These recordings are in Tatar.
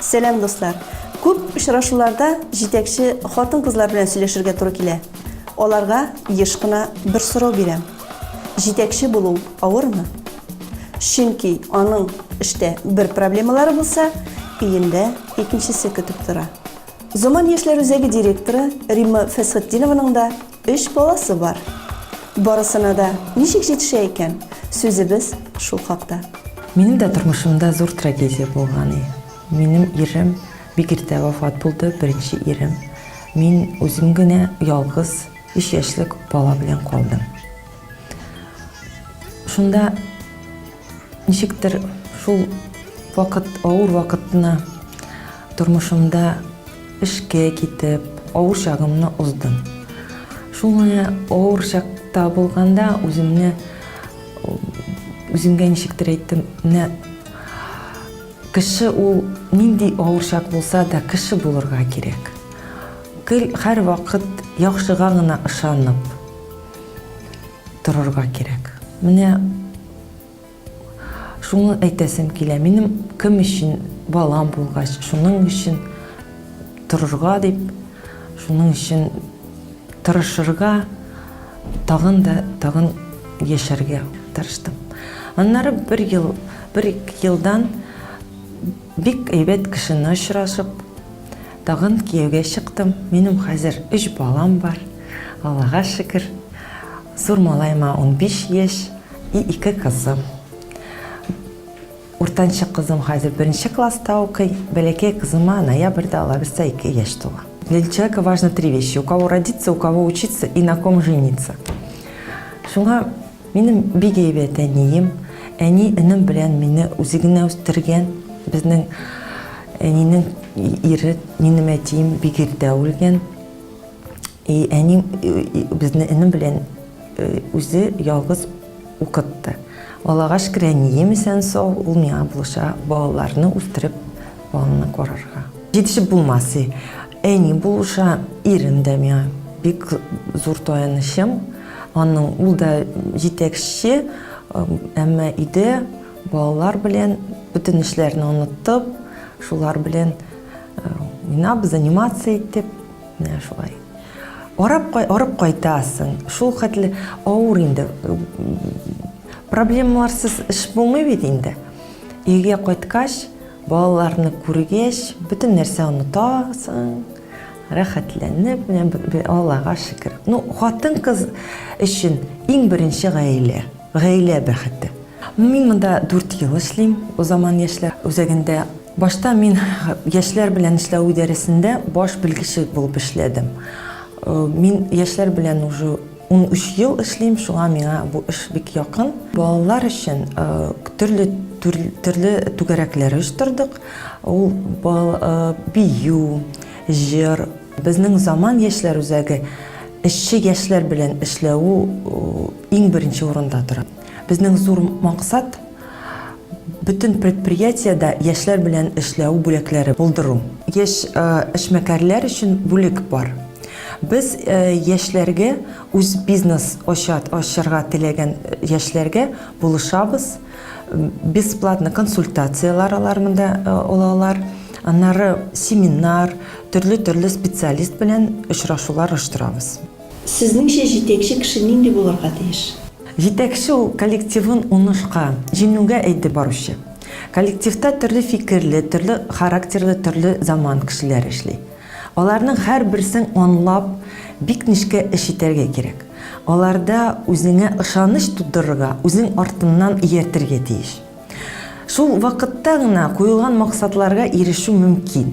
Сәлам дуслар! Күп очрашуларда җитәкче хатын-кызлар белән сөйләшергә туры килә. Аларга еш кына бер сорау бирәм. Җитәкче булу авырмы? Чөнки аның эштә бер проблемалары булса, өендә икенчесе көтеп тора. Заман яшьләр үзәге директоры Римма Фәсхетдинованың да Өч баласы бар. Барысына да ничек җитешә икән? Сүзебез шул хакта. Минем дә тормышымда зур трагедия булган и. Минем ирем бик иртә вафат булды, беренче ирем. Мин үзем генә ялгыз өч яшьлек бала белән калдым. Шунда. Ничектер шул вакыт, авыр вакытны тормышымда эшкә китеп, авыр чагымны уздым. Шул менә авыр чакта булганда үземне үземгә ничектер әйттем, менә кеше ул нинди авыр чак булса да кеше булырга кирәк. Гел һәр вакыт яхшыга гына ышанып торырга кирәк. Менә Шуны әйтәсем килә, минем кем өчен балам булгач, шуның өчен торырга дип, шуның өчен тырышырга, тагын да тагын яшәргә тырыштым. Аннары бер ел, бер елдан бик әйбәт кешене очрашып, Тагын кияүгә чыктым, минем хәзер өч балам бар, Аллага шөкер. Зур малаема унбиш яшь и ике кызым. Уртанчы кызым хәзер беренче класста укый, бәләкәй кызыма ноябрьдә алаберса ике яшь тула. Для человека важно три вещи, у кого родиться, у кого учиться и на ком жениться. Шуңа. Минем бик әйбәт әнием, әни энем белән мине үзе генә үстергән. Безнең әнинең ире, минем әтием бик иртә үлгән. И әни безне энем белән э, үзе ялгыз укытты. Аллага шөкер, әнием исән сау, ул миңа булыша балаларны үстереп, баланы карарга. Җитешеп булмасы. Әни булыша, ирем дә миңа бик зур таянычым. Аның ул да җитәкче, әмма өйдә балалар белән бөтен эшләрне оныттып, шулар белән уйнап, занимация итеп, менә шулай. Арап, арып кайтасың, шул хәтле авыр инде. Проблемаларсыз эш булмый бит инде. Өйгә кайткач, балаларны күргәч, бөтен нәрсә онытасың. Рәхәтләнеп, менә б, б, Аллага шөкер. Ну, хатын-кыз өчен иң беренче гаилә, гаилә бәхете. Мин монда дүрт ел эшлим, Заман яшьләр үзәгендә. Башта мин яшьләр белән эшләү идарәсендә баш белгече булып эшләдем. Мин яшьләр белән уже Унөч ел эшлим, шуңа миңа бу эш бик якын. Балалар өчен төрле төрле түгәрәкләр оештырдык. Ул бию, җыр. Безнең Заман яшьләр үзәге эшче яшьләр белән эшләү иң беренче урында тора. Безнең зур максат, Бөтен предприятиедә яшьләр белән эшләү бүлекләре булдыру. Яшь эшмәкәрләр өчен бүлек бар. Без яшьләргә, үз бизнес ачарга теләгән яшьләргә булышабыз. Бесплатно консультацияләр алар монда ала алар. Аннары семинар, төрле-төрле специалист белән очрашулар оештырабыз. Сезнеңчә җитәкче кеше нинди булырга тиеш? Җитәкче ул, коллективын уңышка, җиңүгә әйдеп баручы. Коллективта төрле фикерле, төрле характерлы, төрле заман кешеләре эшли. Аларның һәрберсен анлап, бик нечкә эш итәргә кирәк. Аларда үзеңә ышаныч тудырырга, үзең артыннан ияртергә тиеш. Шул вакытта гына куелган максатларга ирешү мөмкин.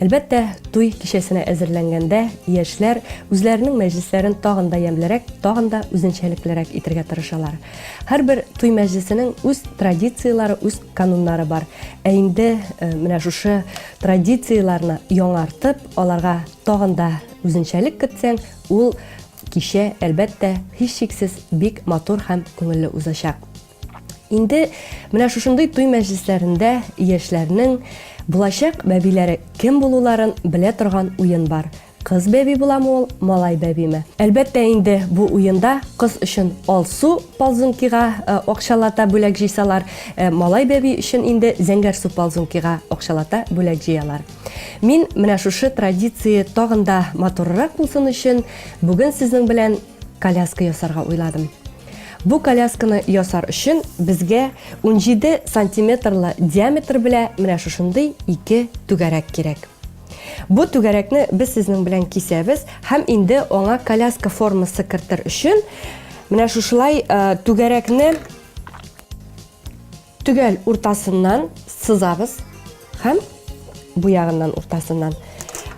Әлбәттә, туй кичәсенә әзерләнгәндә яшьләр үзләренең мәҗлесләрен тагын да ямьлерәк, тагын да үзенчәлеклерәк итергә тырышалар. Һәрбер туй мәҗлесенең үз традицияләре, үз кануннары бар. Ә инде э, менә шушы традицияләрне яңартып, аларга тагын да үзенчәлек кертсәң, ул кичә, әлбәттә, һичшиксез бик матур һәм күңелле узачак. Инде менә шушындый туй мәҗлесләрендә яшьләрнең булачак бәбиләре кем булуларын белә торган уен бар. Кыз бәби буламы ул, малай бәбиме? Әлбәттә инде бу уенда кыз өчен алсу ползункига э, акчалата бүләк җыйсалар, э, малай бәби өчен инде зәңгәр су ползункига акчалата бүләк җыялар. Мин менә шушы традиция тагын да матуррак булсын өчен бүген сезнең белән коляска ясарга уйладым. Бу колясканы ясар өчен безгә 17 сантиметрлы диаметр белә менә шушындый ике түгәрәк кирәк. Бу түгәрәкне без сезнең белән кисәбез һәм инде аңа коляска формасы кертер өчен менә шушылай э, түгәрәкне Төгәл уртасыннан сызабыз һәм бу ягыннан уртасыннан.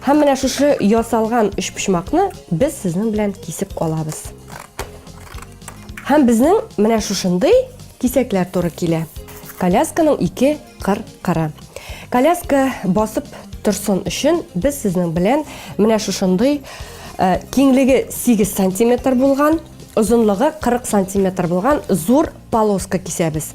Һәм менә шушы ясалган өчпочмакны без сезнең белән кисеп алабыз. Һәм безнең менә шушындый кисәкләр туры килә. Колясканың ике кыр кыры. Коляска басып торсын өчен без сезнең белән менә шушындый киңлеге 8 сантиметр булган, озынлыгы 40 сантиметр булган зур Полоска кисәбез.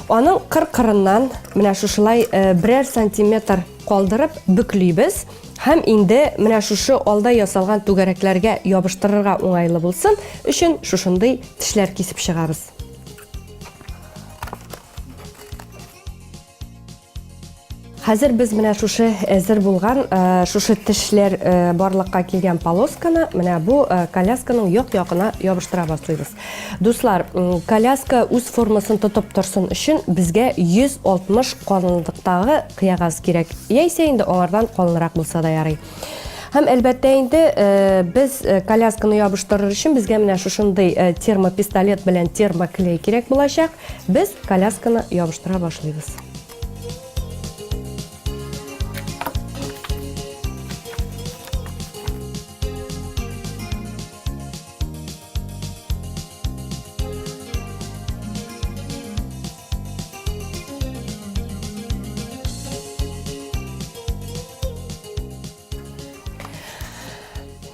Аның кыр-кырыннан менә шушылай э, берәр сантиметр калдырып бөклибез һәм инде менә шушы алда ясалган түгәрәкләргә ябыштырырга уңайлы булсын өчен шушындый тешләр кисеп чыгабыз. Хәзер без менә шушы әзер булган, шушы тешләр барлыкка килгән полосканы менә бу колясканың як-ягына ябыштыра башлыйбыз. Дуслар, коляска үз формасын тотып торсын өчен безгә 160 калынлыктагы кыягаз кирәк. Яисә инде аңардан калынрак булса да ярый. Һәм әлбәттә инде без колясканы ябыштырыр өчен безгә менә шушындый термопистолет белән термоклей кирәк булачак. Без колясканы ябыштыра башлыйбыз.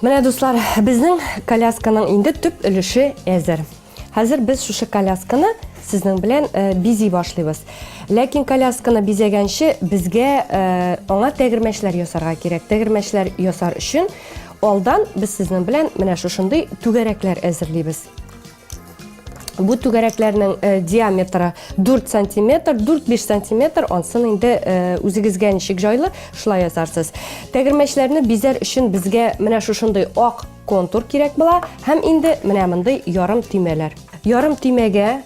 Менә, дуслар, безнең колясканың инде төп өлеше әзер. Хәзер без шушы колясканы сезнең белән э, бизи башлыйбыз. Ләкин колясканы бизәгәнче безгә э, аңа тәгәрмәчләр ясарга кирәк. Тәгәрмәчләр ясар өчен алдан без сезнең белән менә шушындый түгәрәкләр әзерлибез. Бу түгәрәкләрнең э, диаметры 4 сантиметр, 4-5 сантиметр, ансын инде э, үзегезгә ничек җайлы, шулай ясарсыз. Тәгәрмәчләрне бизәр өчен безгә менә шушындый ак контур кирәк була һәм инде менә мондый ярым төймәләр. Ярым төймәгә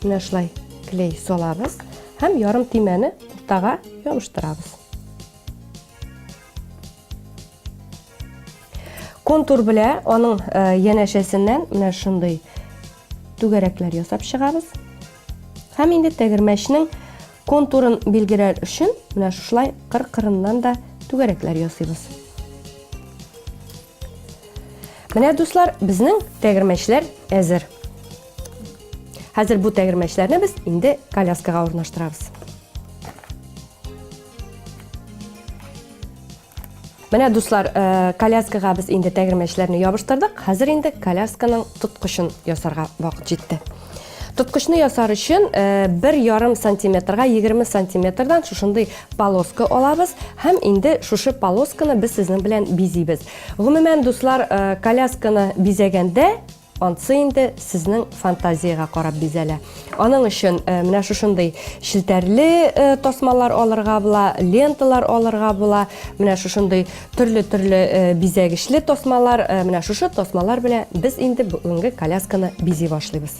менә шулай клей салабыз һәм ярым төймәне уртага ябыштырабыз. контур белә аның э, янәшәсеннән менә шундый түгәрәкләр ясап чыгабыз һәм инде тәгәрмәчнең Контурын билгеләр өчен менә шушылай кыр-кырыннан да түгәрәкләр ясыйбыз. Менә дуслар, безнең тәгәрмәчләр әзер. Хәзер бу тәгәрмәчләрне без инде коляскага урнаштырабыз. Менә дуслар, э, коляскага без инде тәгәрмәчләрне ябыштырдык. Хәзер инде колясканың тоткычын ясарга вакыт җитте. Тоткычны ясар өчен э, бер ярым сантиметрга 20 сантиметрдан шушындый полоска алабыз һәм инде шушы полосканы без сезнең белән бизибез. Гомумән, дуслар, э, колясканы бизәгәндә Ансы инде сезнең фантазиягә карап бизәлә. Аның өчен э, менә шушындый челтәрле э, тасмалар алырга була, ленталар алырга була, менә шушындый төрле-төрле э, бизәгечле тасмалар, менә шушы тасмалар белән без инде бүгенге колясканы бизи башлыйбыз.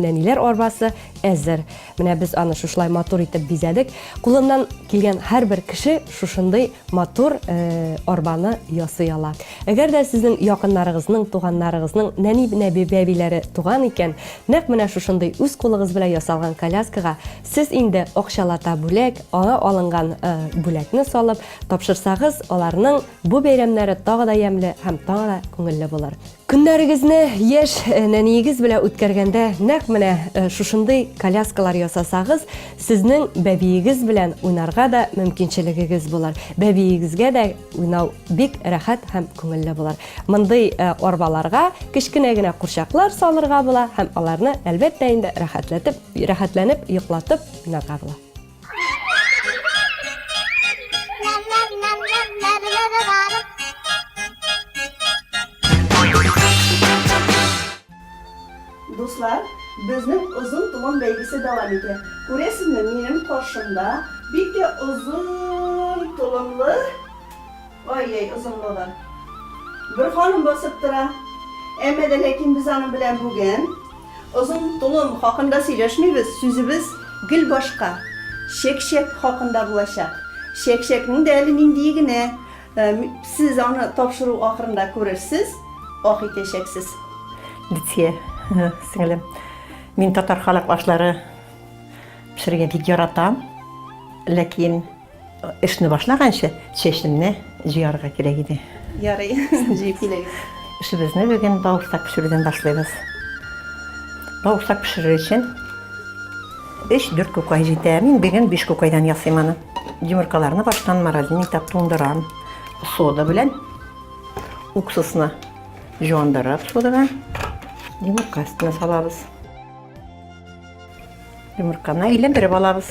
Нәниләр арбасы әзер. Менә без аны шушылай матур итеп бизәдек. Кулыннан килгән һәрбер кеше шушындый матур э, арбаны ясый ала. Әгәр дә сезнең якыннарыгызның, туганнарыгызның нәни нәби бәбиләре туган икән, нәкъ менә шушындый үз кулыгыз белән ясалган коляскага сез инде акчалата бүләк, аңа алынган э, бүләкне салып тапшырсагыз, аларның бу бәйрәмнәре тагы да ямьле һәм тагы да күңелле булыр. Көннәрегезне яшь нәниегез белән үткәргәндә нәкъ менә шушындый коляскалар ясасагыз, сезнең бәбиегез белән уйнарга да мөмкинчелегегез булыр. Бәбиегезгә дә уйнау бик рәхәт һәм күңелле булыр. Мондый арбаларга кечкенә генә курчаклар салырга була һәм аларны, әлбәттә инде, рәхәтләтеп, рәхәтләнеп йоклатып уйнарга була. Дуслар, безнең озын туган бәйгесе дәвам итә. Күрәсезме, минем каршымда бик тә озын толымлы Ай-яй, озынлыгы. Бер ханым басып тора. Әмма дә ләкин без аның белән бүген озын толым хакында сөйләшмибез, сүзебез гел башка, чәкчәк хакында булачак. Чәкчәкнең дә әле ниндие генә, сез аны тапшыру ахырында күрерсез, ах итәчәксез. Лидия, сеңелем, мин татар халык ашлары пешерергә бик яратам, ләкин Эшне башлаганчы чәчемне җыярга кирәк иде. Ярый, җыеп килегез. Эшебезне бүген бавырсак пешерүдән башлыйбыз. Бавырсак пешерер өчен 3-4 күкай җитә. Мин бүген 5 күкайдан ясыйм аны. Йомыркаларны баштан морозильник итеп туңдырам. Сода белән уксусны җуандырып содага йомырка өстенә салабыз. Йомырканы әйләндереп алабыз.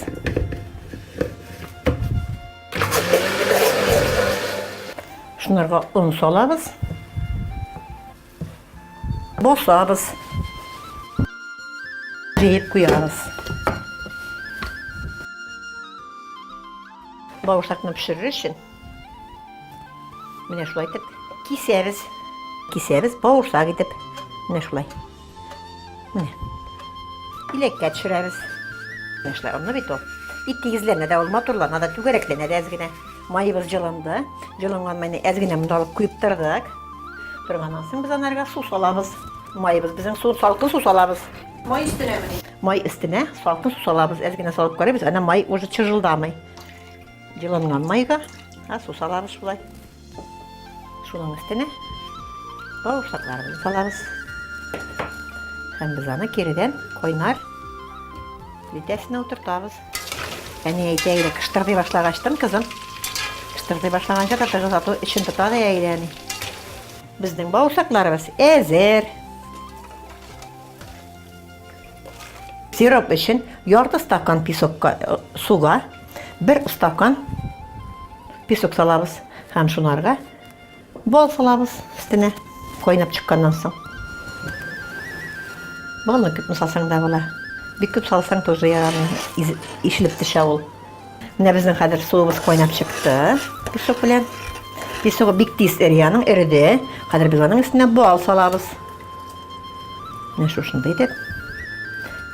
Шунарга он салабыз. Босабыз. Җыеп куябыз. Бавырсакны пешерер өчен менә шулай итеп кисәбез. Кисәбез бавырсак итеп. Менә шулай. Менә. Иләккә төшерәбез. Яшьләр онны бит ул. Бик тигезләнә дә ул, матурлана да, түгәрәкләнә дә әз генә. Маебыз җылынды. Җылынган майны әз генә монда алып куеп тордык. Торганнан соң без анарга су салабыз. Маебыз безнең су, салкын су салабыз. Май өстенә мени? Май өстенә салкын су салабыз, әз генә салып карыйбыз. Әнә май уже чыжылдамый. Җылынган майга, а су салабыз шулай. Шуның өстенә бавырсакларыбызны салабыз. Һәм без аны киредән кайнар плитәсенә утыртабыз. Әни әйтә иде, кыштырдый башлагачтын, кызым. Кыштырдый башлаганча да тыгыз ату эчен тота да әйдә әни. Безнең бавырсакларыбыз әзер. Сироп өчен ярты стакан песокка э, суга бер стакан песок салабыз һәм шунарга бал салабыз өстенә кайнап чыкканнан соң. Балны күпме салсаң да була. Бик күп салсаң тоже ярамый, ишелеп төшә ул. Менә безнең хәзер суыбыз кайнап чыкты. Песок белән. Песогы бик тиз эри, аның эреде. Хәзер без аның өстенә бал салабыз. Менә шушында итеп.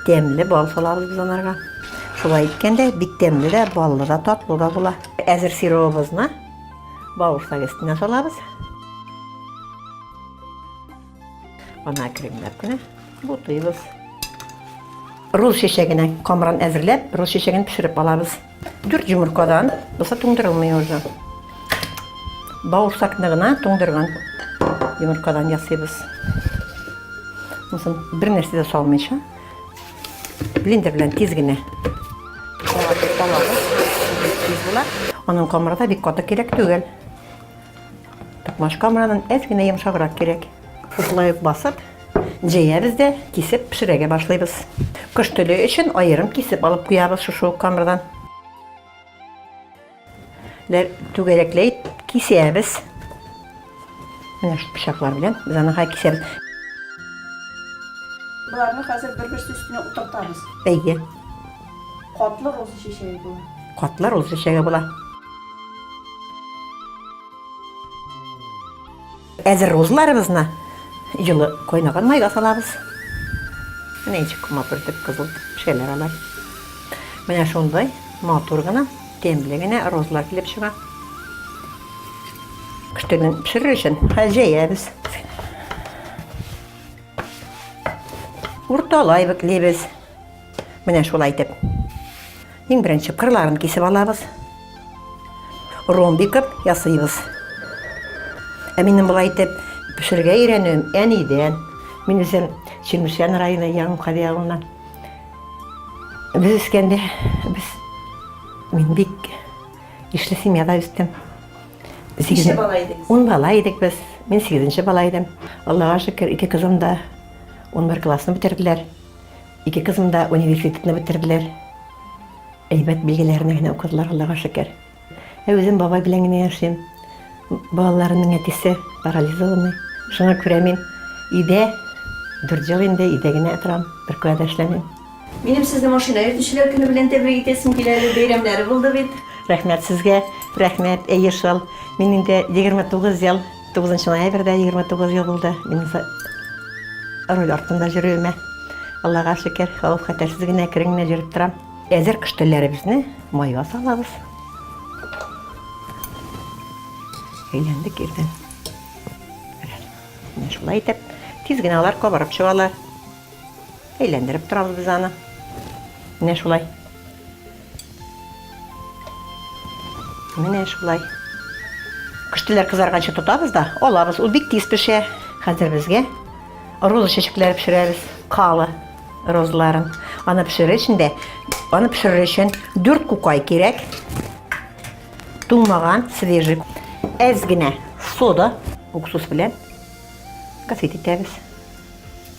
Тәмле бал салабыз без анарга. Шулай иткәндә бик тәмле дә, баллы да, татлы да була. Әзер сиробыбызны бавырсак өстенә салабыз. Ана кремнәрне бутыйбыз. Рус чәчәгенә камран әзерләп, рус чәчәген пешереп алабыз. Дүрт йомыркадан, булса туңдырылмый уже. Бауырсакны гына туңдырган йомыркадан ясыйбыз. Мусын бер нәрсә дә салмыйча, блендер белән тиз генә Аның камыры да бик каты кирәк түгел. Токмачка моннан әз генә йомшаграк кирәк. Шушылай ук басып, җәябез дә кисеп пешерәгә башлыйбыз. Кош теле өчен аерым кисеп алып куябыз шушы ук камырдан. Түгәрәкләй кисәбез. Менә шул пычаклар белән без аны хай кисәбез. Боларны хәзер бер-берсе өстенә утыртабыз. Әйе. Катлы роза чәчәге була. Катлы роза чәчәге була. Әзер рузларыбызны җылы кайнаган майга салабыз. Менә ничек матур итеп кызыл пешәләр алар. Менә шундай матур гына, тәмле генә рузлар килеп чыга. Көштәдән пешерер өчен җәябез. Урталай биклибез. Менә шулай итеп. Иң беренче кырларын кисеп алабыз. Ромбикып ясыйбыз. Ә минем болай итеп пешерергә өйрәнүем әнидән. Мин үзем Чемешән районы Яңкади авылына. Без үскәндә без мин бик ишле семьяда үстем. Сигезне бала идек. Ун бала идек без. Мин сигезенче бала идем. Аллага шөкер, ике кызым да 11 классны бетерделәр. Ике кызым да университетны бетерделәр. Әйбәт билгеләрне генә укыдылар, Аллага шөкер. Ә үзем бабай белән генә яшим. Балаларымның әтисе парализованный. Шуңа күрә мин өйдә, дүрт ел инде өйдә генә торам, беркая да эшләмим. Минем сезне машина йөртүчеләр көне белән тәбрик итәсем килә әле, бәйрәмнәре булды бит. Рәхмәт сезгә, рәхмәт, әйе шул. Мин инде егерме тугыз ел. 9 ноябрьдә 29 ел булды минем руль артында йөрүемә. Аллага шөкер, хәвеф-хәтәрсез генә, әкрен генә йөреп торам. Әзер кыш телләребезне майга салабыз. Әйләндек ирдән. Менә шулай итеп, тиз генә алар кабарып чыгалар. Әйләндереп торабыз без аны. Менә шулай. Менә шулай. Күштеләр кызарганчы тотабыз да, алабыз. Ул бик тиз пешә. Хәзер безгә роза чәчәкләре пешерәбез. Кала розаларын. Аны пешерер өчен дә, аны пешерер өчен 4 кукай кирәк. Туңмаган, свежий. Әз генә сода, уксус белән кофе итәбез.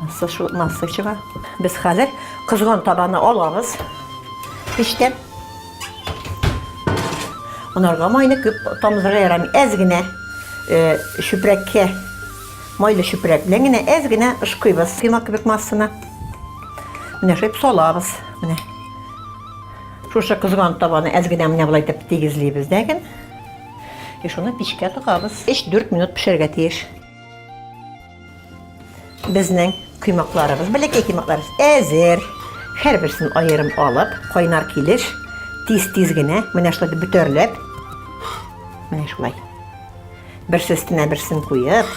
Насышу, насы чыга. Без хәзер кызган табаны алабыз. Пиштән. Монарга майны күп тамызырга ярамый. Әз генә э, чүпрәккә, майлы чүпрәк белән генә әз генә ышкыйбыз. Кыйма кебек массаны. Менә шөп салабыз. Менә. Шушы кызган табаны әз генә менә болай итеп тигезлибез дәген. И шуны печкә тыгабыз. 3-4 минут пешәргә тиеш. Безнең коймакларыбыз, бәләкәй коймакларыбыз әзер. Һәрберсен аерым алып, кайнар килеш тиз-тиз генә менә шулай бөтәрләп. Менә шулай. Берсе өстенә берсен куеп,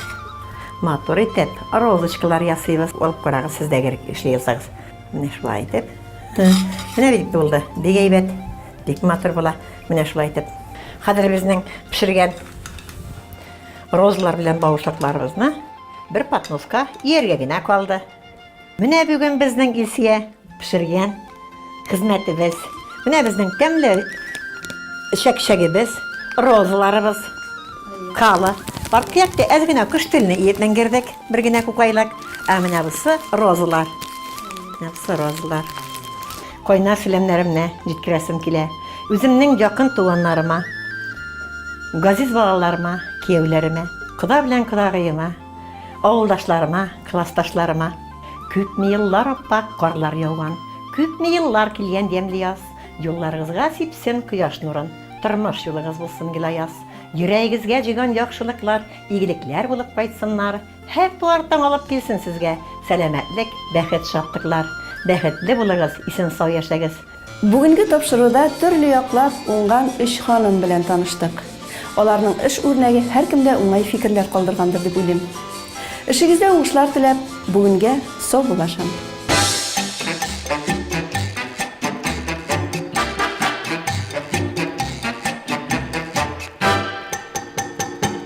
матур итеп розочкалар ясыйбыз. Алып карагыз, сез дә гел эшли ясагыз. Менә шулай итеп. Менә бит булды. Бик әйбәт. Бик матур була. Менә шулай итеп. Хәзер безнең пешергән Розалар белән бавырсакларыбызны бер подноска ияргә генә калды. Менә бүген безнең Илсия пешергән хезмәтебез. Менә безнең тәмле чәкчәгебез, розаларыбыз, кала. Аркыякта әз генә кош телне иеп менгердек, бер генә күкайлык. Ә менә бусы розалар. Менә бусы розалар. Кайнар сәламнәремне җиткерәсем килә үземнең якын туганнарыма, газиз балаларыма, кияүләремә, кода белән кодагыема, авылдашларыма, классташларыма. Күпме еллар аппак карлар яуган, күпме еллар килгән ямьле яз, юлларыгызга сипсен кояш нурын, тормыш юлыгыз булсын гел аяз, йөрәгегезгә җыйган яхшылыклар игелекләр булып кайтсыннар, Һәр туар таң алып килсен сезгә сәламәтлек, бәхет, шатлыклар! Бәхетле булыгыз, исән-сау яшәгез! Бүгенге тапшыруда төрле яклап уңган өч ханым белән таныштык. Аларның эш үрнәге һәркемдә уңай фикерләр калдыргандыр дип уйлыйм. Эшегездә уңышлар теләп, бүгенгә саубуллашам.